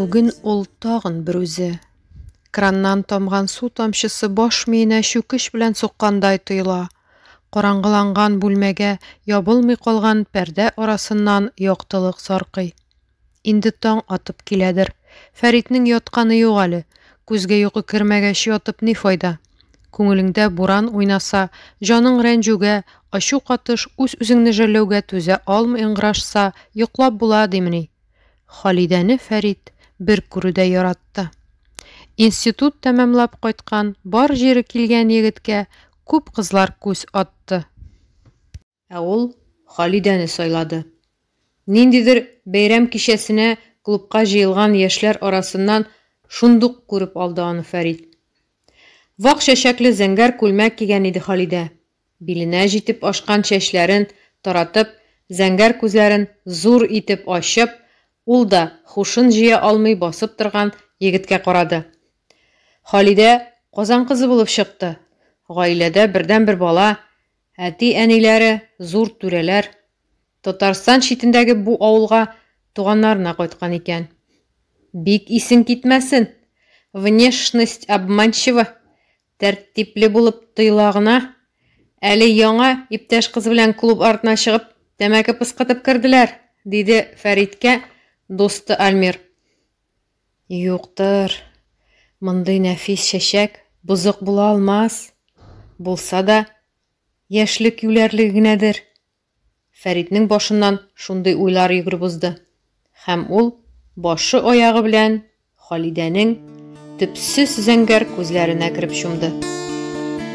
Бүген ул тагын бер үзе. Краннан тамган су тамчысы баш миенә чүкеч белән суккандай тоела. Караңгыланган бүлмәгә ябылмый калган пәрдә арасыннан яктылык саркый. Инде таң атып киләдер. Фәритнең ятканы юк әле. Күзгә йокы кермәгәч, ятып ни файда? Күңелеңдә буран уйнаса, җаның рәнҗүгә, ачу катыш, үз-үзеңне жәлләүгә түзә алмый ыңгырашса, йоклап була димени? Халидәне Фәрит бер күрүдә яратты. Институт тәмамлап кайткан, бар җире килгән егеткә күп кызлар күз атты. Ә ул Халидәне сайлады. Ниндидер бәйрәм кичәсенә клубка җыелган яшьләр арасыннан шундук күреп алды аны Фәрит. Вак чәчәкле зәңгәр күлмәк кигән иде Халидә. Биленә җитеп ашкан чәчләрен таратып, зәңгәр күзләрен зур итеп ачып, ул да һушын җыя алмый басып торган егеткә карады. Халидә Казан кызы булып чыкты. Гаиләдә бердәнбер бала, Әти-әниләре, зур түрәләр Татарстан читендәге бу авылга туганнарына кайткан икән. Бик исең китмәсен, внешность обманчива, тәртипле булып тоела гына. Әле яңа иптәш кыз белән клуб артына чыгып, тәмәке пыскытып керделәр, диде Фәриткә дусты Альмир. Юктыр. Мондый нәфис чәчәк бозык була алмас. Булса да, яшьлек юләрлеге генәдер. Фәритнең башыннан шундый уйлар йөгереп узды. Һәм ул башы-аягы белән Халидәнең төпсез зәңгәр күзләренә кереп чумды.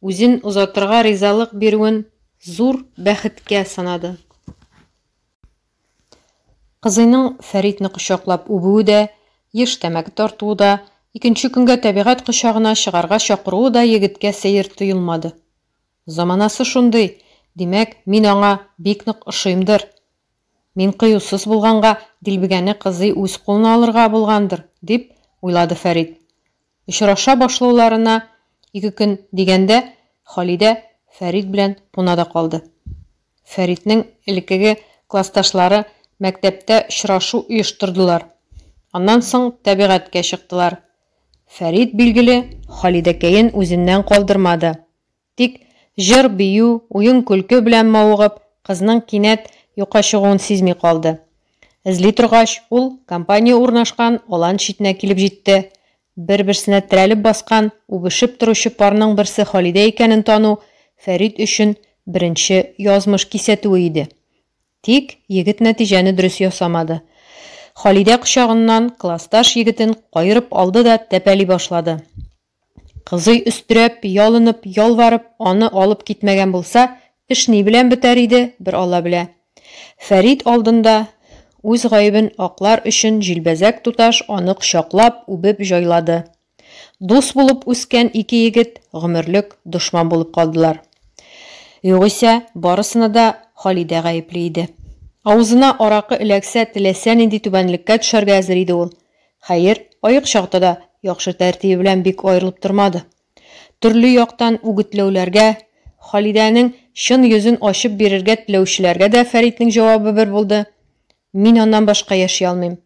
үзен озатырга ризалык бирүен зур бәхеткә санады. Кызыйның Фәритне кочаклап үбүе дә, еш тәмәке тартуы да, икенче көнгә табигать кочагына чыгарга чакыруы да егеткә сәер тоелмады. Заманасы шундый, димәк, мин аңа бик нык ошыймдыр. Мин кыюсыз булганга, дилбегәне кызый үз кулына алырга булгандыр, дип уйлады Фәрит. Очраша башлауларына ике көн дигәндә Халидә Фәрит белән куна да калды. Фәритнең элеккеге классташлары мәктәптә очрашу оештырдылар. Аннан соң тәбигатькә чыктылар. Фәрит, билгеле, Халидәкәен үзеннән калдырмады. Тик җыр-бию, уен-көлке белән мавыгып, кызның кинәт юкка чыгуын сизми калды. Эзли торгач, ул компания урнашкан алан читенә килеп җитте. Бер-берсенә терәлеп баскан, үбешеп торучы парның берсе Халидә икәнен тану Фәрит өчен беренче язмыш кисәтүе иде. Тик егет нәтиҗәне дөрес ясамады. Халидә кочагыннан классташ егетен каерып алды да тәпәли башлады. Кызый өстерәп, ялынып, ялварып, аны алып китмәгән булса, эш ни белән бетәр иде, бер Алла белә. Фәрит алдында үз гаебен аклар өчен җилбәзәк туташ аны кочаклап, үбеп җайлады. Дус булып үскән ике егет гомерлек дошман булып калдылар. Югыйсә, барысына да Халидә гаепле иде. Авызына аракы эләксә, теләсә нинди түбәнлеккә төшәргә әзер иде ул. Хәер, аек чакта да яхшы тәртибе белән бик аерылып тормады. Төрле яктан үгетләүләргә, Халидәнең чын йөзен ачып бирергә теләүчеләргә дә Фәритнең җавабы бер булды, Мин аннан башка яши алмыйм.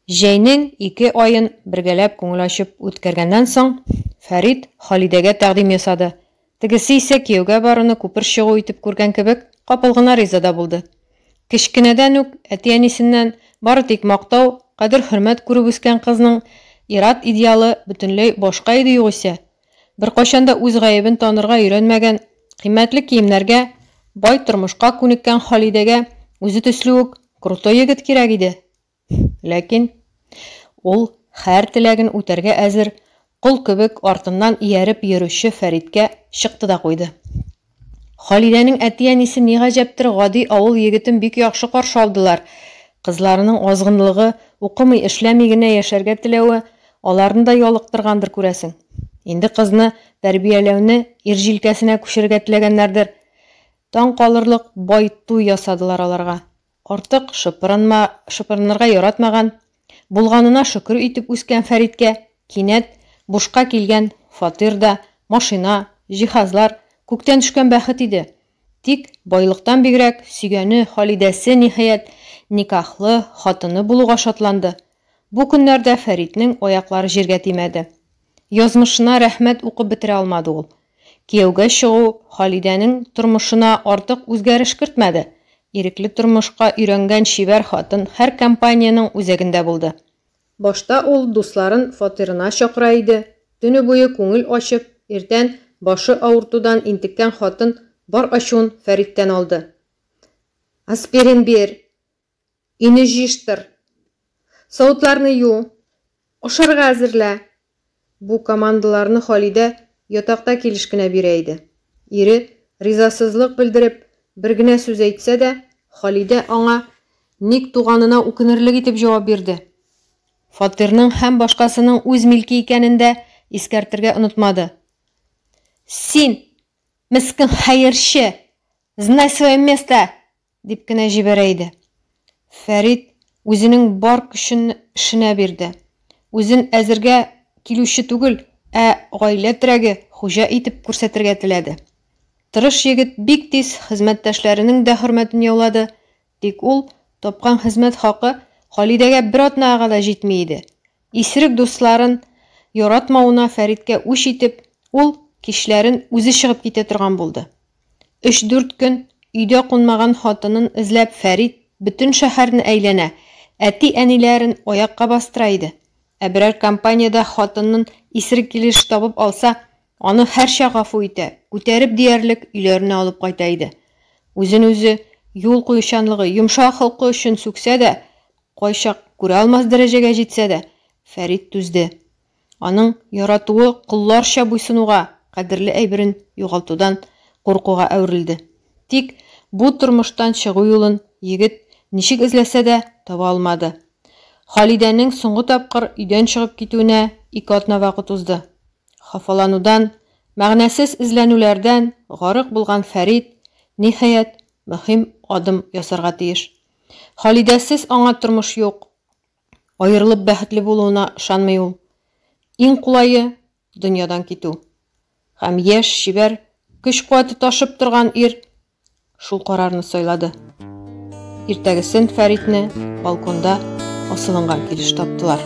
Җәйнең ике аен бергәләп күңел ачып үткәргәннән соң, Фәрит Халидәгә тәкъдим ясады, Тегесе исә, кияүгә баруны күпер чыгу итеп күргән кебек, капыл гына риза да булды. Кечкенәдән үк әти-әнисеннән бары тик мактау, кадер-хөрмәт күреп үскән кызның ир-ат идеалы бөтенләй башка иде югыйсә. Беркайчан да үз гаебен танырга өйрәнмәгән, кыйммәтле киемнәргә, бай тормышка күнеккән Халидәгә үзе төсле үк крутой егет кирәк иде. Ләкин ул хәр теләген үтәргә әзер кол кебек артыннан ияреп йөрүче Фәриткә чыкты да куйды. Халидәнең әти-әнисе ни гаҗәптер гади авыл егетен бик яхшы каршы алдылар. Кызларының азгынлыгы, укымый, эшләми генә яшәргә теләве аларны да ялыктыргандыр, күрәсең. Инде кызны тәрбияләүне ир җилкәсенә күчерергә теләгәннәрдер. Таң калырлык бай туй ясадылар аларга. Артык шыпырынма, шыпырынырга яратмаган, булганына шөкер итеп үскән Фәриткә кинәт бушка килгән фатир да, машина, җиһазлар, күктән төшкән бәхет иде. Тик байлыктан бигрәк, сөйгәне, Халидәсе, ниһаять, никахлы хатыны булуга шатланды. Бу көннәрдә Фәритнең аяклары җиргә тимәде. Язмышына рәхмәт укып бетерә алмады ул. Кияүгә чыгу Халидәнең тормышына артык үзгәреш кертмәде. Ирекле тормышка өйрәнгән чибәр хатын һәр компаниянең үзәгендә булды. Башта ул дусларын фатирына чакыра иде, төне буе күңел ачып, иртән, башы авыртудан интеккән хатын бар ачуын Фәриттән алды. Аспирин бир! Өйне җыештыр. Савытларны ю. Ашарга әзерлә. Бу командаларны Халидә ятакта килеш кенә бирә иде. Ире, ризасызлык белдереп, бер генә сүз әйтсә дә, Халидә аңа ник туганына үкенерлек итеп җавап бирде. Фатирның һәм башкасының үз милке икәнен дә искәртергә онытмады. Син, мескен хәерче! Знай свое место! Дип кенә җибәрә иде. Фәрит үзенең бар көчен эшенә бирде. Үзен әзергә килүче түгел, ә гаилә терәге, хуҗа итеп күрсәтергә теләде. Тырыш егет бик тиз хезмәттәшләренең дә хөрмәтен яулады, тик ул тапкан хезмәт хакы Халидәгә бер атнага да җитми иде. Исерек дусларын яратмавына Фәриткә үч итеп, ул кичләрен үзе чыгып китә торган булды. Өч-дүрт көн өйдә кунмаган хатынын эзләп Фәрит бөтен шәһәрне әйләнә, әти-әниләрен аякка бастыра иде. Ә берәр компаниядә хатынын исерек килеш табып алса, аны һәрчак гафу итә, күтәреп диярлек өйләренә алып кайта иде. Үзен-үзе юл куючанлыгы, йомшак холкы өчен сүксә дә, кайчак күрә алмас дәрәҗәгә җитсә дә, Фәрит түзде. Аның яратуы колларча буйсынуга, кадерле әйберен югалтудан куркуга әверелде. Тик бу тормыштан чыгу юлын егет ничек эзләсә дә, таба алмады. Халидәнең соңгы тапкыр өйдән чыгып китүенә ике атна вакыт узды. Хафаланудан, мәгънәсез эзләнүләрдән гарык булган Фәрит, ниһаять, мөһим адым ясарга тиеш. Халидәсез аңа тормыш юк. Аерылып бәхетле булуына ышанмый ул. Иң кулае, дөньядан китү. Һәм яшь, чибәр, көч-куәте ташып торган ир шул карарны сайлады. Иртәгесен Фәритне балконда асылынган килеш таптылар.